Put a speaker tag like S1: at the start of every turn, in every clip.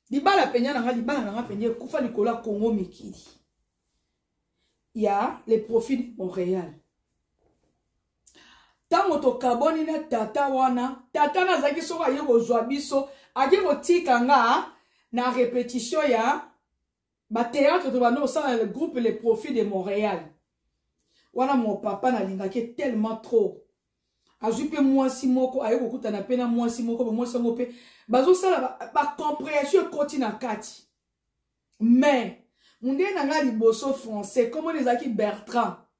S1: libala penya na nga libala na nga penya ekufa likolo ya kongo mikili ya le profit de montréal ntango tokabwani na tata wana tata na azalaki soko aye kozwa biso ake kotika nga na repetition ya ba théâtre to bando osala le groupe le profit de Montréal wana mon papa nalingaki tellement trop azwi mpe mwasi moko aye kokutana mpe na mwasi moko bamwasi yango mpe bazosala bacomprehension ekoti na kati mais mondele na ngai liboso français komona ezalaki bertrand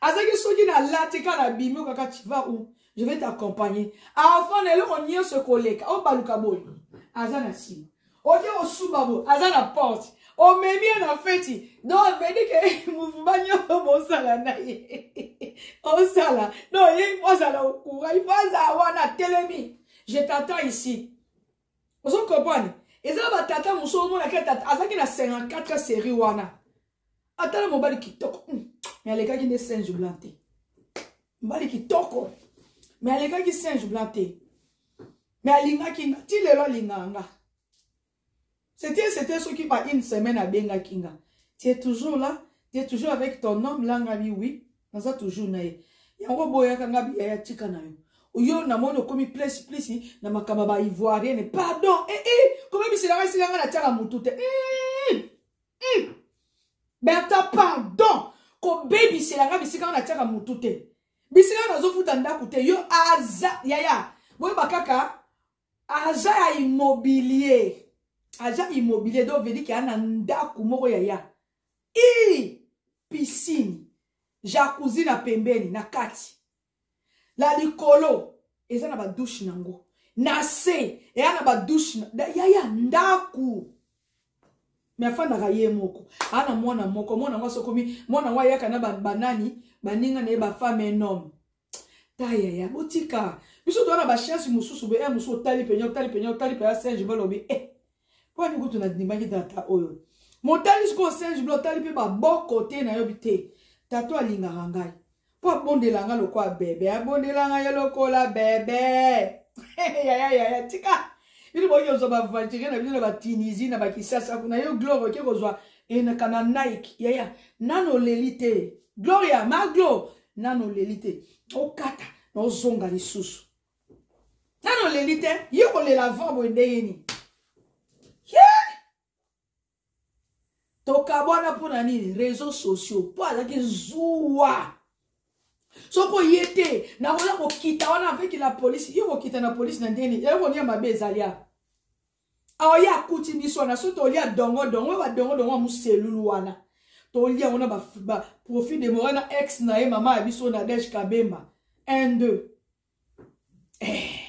S1: azalaki soki nalati kaka nabimi oyo kaka tiva ou je vais t'accompagner avant na eloko nyonso ekoleka obaluka boye aza na nsima oke osuba boye aza na porte omemi ye na feti donc vedi ke mouvema nyonso bosala na ye osala donc ye ifo azala okura ifo azala wana atelemi je t'attends ici ozo comprendre eza na batata mosusu omonaka tata azalaki na 54 série wana ata na mobali kitoko hmm, me alekaki nde singe blanc te mobali kitoko me alekaki singe blanc te me alingaki nga ti lelo alingaka nga c'était c'était soki ba une semaine abengaki nga tu es toujours là tu es toujours avec ton homme langami oui naza toujours na ye yango boyaka nga biyaya tika na yo oyo namoni okomi place place na makambo ya baivoirienne pardon ee eh, eh, komebiselaka esika nga natiaka motu te mm, mm. berta pardon kobebisela nga bisika nga natiaka motu te bisika nga nazofuta ndako te yo aza yaya boyeba kaka aza ya immobilier aza immobilier donc vedike ya na ndako moko yaya ii piscine jacuzzi na pembeni na kati la likolo eza na badouche nango na se eya na badouche yaya ndako me afandaka ye moko aa na mwana moko mwana yango asokomi mwana yango ayaka na banani baninga na ye bafame nome taya ya botika biso toza na bachance mosusu boye eh, mosusu otali penya otali penya otali penya singe balobi e mpo ani kutu nandimaki tata oyo motali sikoyo singe blo otali mpe baboko te nayobi te tata alingaka ngai mpo abondela ngai lokola bebe abondela ngai ye lokola bebe yaya yaya tika bino boki kozwa bavantirie na bino na batunisie na bakisasa kuna yo glore oke kozwa enakana nike yaya nano oleli te gloria maglo nano oleli te okata na ozonga lisusu nano oleli te ye kolela avant boye ndenge nini tokabwana mpo na nini réseau sociaux mpo azalaki zuwa soki oye te nakoya kokita wana avec la polise yo kokita na polise na ndenge nini eloko nini ya mabe ezali awa aoye akuti biso wana so tolia dongo dongo ba dongo dongo ya muselulu wana tolia yango na baprofit ba demora na ex na ye mama ya biso na dege kabemba 1 2 eh.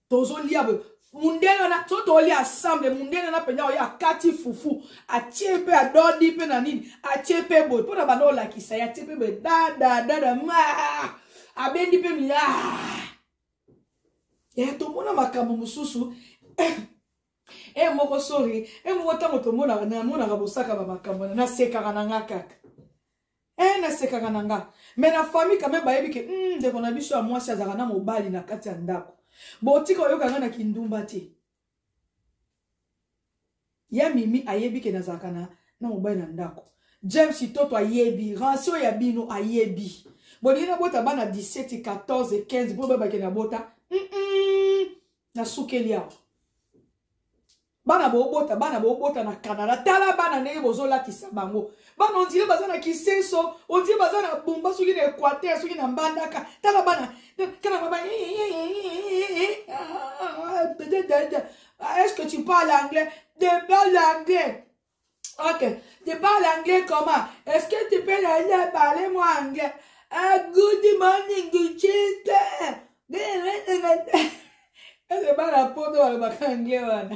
S1: tozolia boye mundele wana so tolia ensemble mundele wana mpenza oye akati fufu atie mpe adodi mpe na nini atie mpe boye mpo na banda olakisa ye atie mpe boye dadadada ma abendi mpe mi ya tomona makambo mosusu e moko sori e moko ntango tomonaka namonaka bosaka bamakambo wana nasekaka na nga kaka e nasekaka na nga me na famille kame bayebi ke hmm, ndeko na biso ya mwasi azalaka na mobali na kati ya ndako botika oyoka nga na kindumba te ya mimi ayebi ke nazalaka na na mobali na ndako james toto ayebi rancio ya bino ayebi bolingi nabota bana 17 14 15 mpo babake nabota mm -mm, nasukeli awa bana bobota bana bobota na canada tala bana ndenge bozolatisa bango bana ondire baza na kisenso ondire baza na bumba soki na equateur soki na mbandaka tala bana tala baba est-ce que tu parles anglais de parle anglais ok de parle anglais comment est-ce que tu peux aller parler moi anglais ah, good morning good children eze bana poto balobaka anglais wana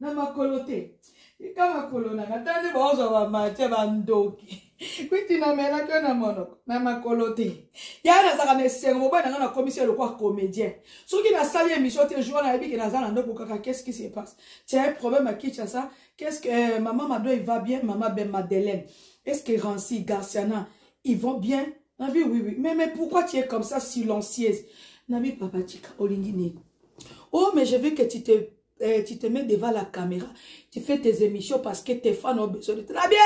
S1: na makolo te tika makolo nanga ata nde baozwa bamatia bandoki kwiti namelaki yo na monoko na makolo te ya nazalaka na esengo mobali nanga nakomisi ye lokwa comédien soki nasali émission te jour nayebi ke naza na ndoko kaka qu'est-ce qui se passe tia un problème à kinshasa qu'est-ce que euh, maman mado il va bien maman ben madeleine est-ce que ranci garciana ils vont bien nabi oui oui mais mais pourquoi tu es comme ça silencieuse nabi papa tika olingi nini oh mais je veux que tu te eh, tu te mets devant la caméra tu fais tes émissions parce que tes fans ont besoin de te na bien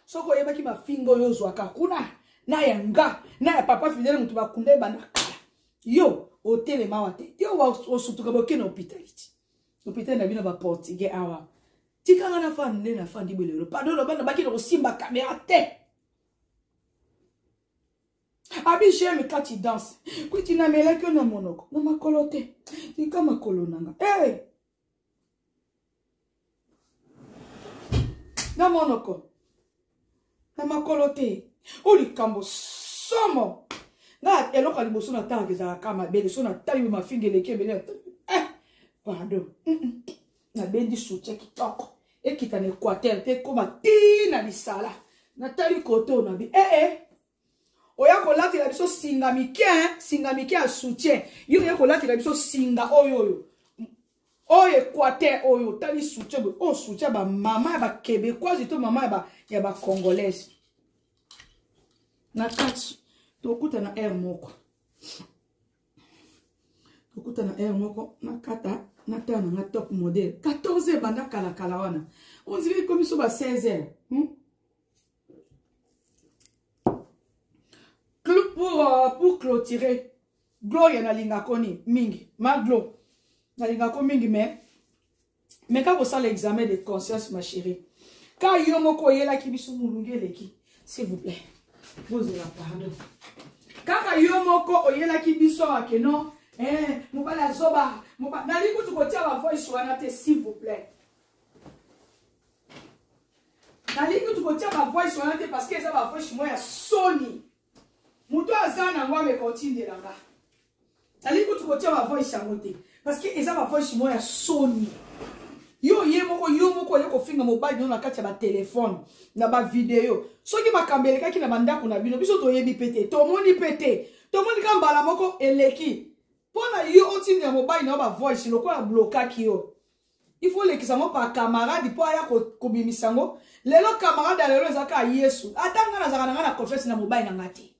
S1: soki oyebaki mafinga oyo ozwaka kuna na ya nga na ya papa fidele moto bakunda ebanda kala yo otelema awa te yo osutuka boke na hopitaliti hopitali na bino baportugais awa tikanga na fani nde na fandi belelo pardon loba nabaki na kosimba kamera te abi j'aime quand tu danse kuiti namelaki yo na monoko na makolo te tika makolo na nga hey! Eh! na monoko na makolo te oyo likambo somo nga eloko ya liboso natalaka ezalaka kaka mabele so natali mafinga eleki ebele eh, pardon nabendi soutien kitoko ekita na équateur te ekoma ti na lisala natali koto nabi ee eh, eh. oya kolatela biso singa mike singa mike ya soutien yo oya kolatela biso singa oyo oyo oyo equateur oyo otali soutien boye oyo soutien bamama ya baquebecoise to mama ya bacongolaise na kati tokutana aire moko tokutana aire moko nakata natala nanga top modele 14 ebanda kalakala wana ondire ekomi so ba 16 heure hmm? pour, euh, pour clôturer gloria nalingako ni mingi maglo nalingako mingi mais mais kaka osala examen de conscience ma chérie ka yo moko oyelaki biso molunge eleki s'il vous plaît bozela pardon kaka yo moko oyelaki biso ake non eh, mobali azoba nali kutu kotia bavoice wana te s'il vous plaît nalingi kutu kotia bavoice wana te parce que eza bavoice moko ya soni moto aza nango ameka otindela nga nalingi kutu kotia bavoice yango te parce que eza bavoice moko ya soni yo ye moko yo moko oye kofinga mobali bino na kati ya batelefone na bavideo soki makambo elekaki na bandako na bino biso toyebi mpe te tomoni mpe te tomoni ka mbala moko eleki mpo na yo otindela mobali na yo bavoice lokola ablokaki yo il faut olekisa yango par camarade mpo aya kobimisa yango lelo camarade ya lelo ezalaka ya yesu ata ngai nazalaka na ngai na confiance na mobali na ngai te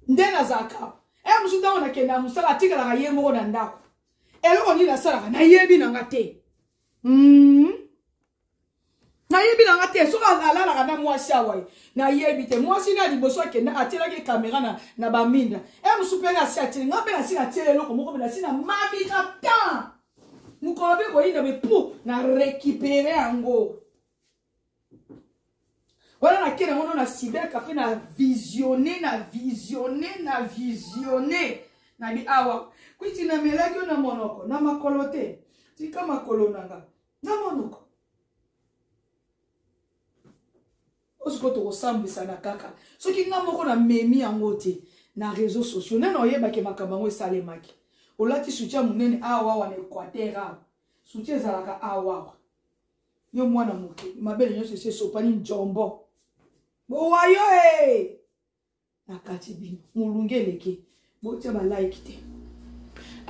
S1: nde nazalaka e eh, mosusu ntango nakende na mosala atikalaka ye moko na ndako eloko nini nasalaka nayebi na ngai te mm -hmm. nayebi na nga te soki alalaka na mwasi awa ye nayebi te mwasi na liboso akenda atyelaki kamera na, na baminda e eh, mosu mpe nasi atyeli nga mpe nasi natyeli eloko moko mpe nasi na mabika temps mokolo mpe koyinda me mpo na récupere yango wana nake na ngono na cyber cafe na visionne na visionne na visionne na bi awa kwiti namelaki yo na monoko na makolo te tika makolo na nga na monoko osiko tokosambwisana kaka soki nga moko na memi yango te na réseau sociaux nani oyebaki makambo yango esalemaki olati soutien monene awawa na équateur awa soutien ezalaka awawa yo mwana moke mabele nyonso esi esopani njombo bowayo e eh! na kati bino molungi eleki botya balike te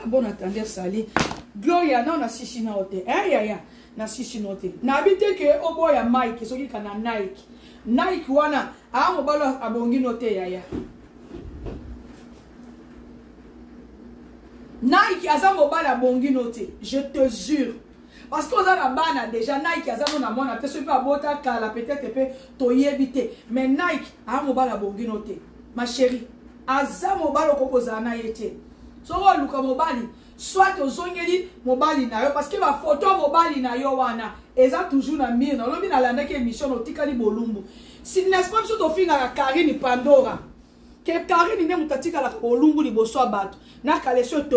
S1: abona ah, tande sali gloria nao na sisi nao te e eh, yaya na sisi nao te nayebi te ke oboya mike soki kana nike nike wana aa ah, mobali abongi no te yaya nike aza mobali abongi no te je te jure parce que oza na bana déjà nike aza no na mwana te soki abota kala peut-être pe toyebi te mais nike aa mobali abongi no te ma chérie aza mobali okoki kozala na ye te soki oluka mobali soit ozongeli mobali na yo parce que bafoto ya mobali na yo wana eza toujours na mire na olobi nalandaki émission na otikali bolumbu si n'est-ce pas biso tofingaka karine pandora ke karine nde moto atikalaka bolumbu liboso ya bato na kalesio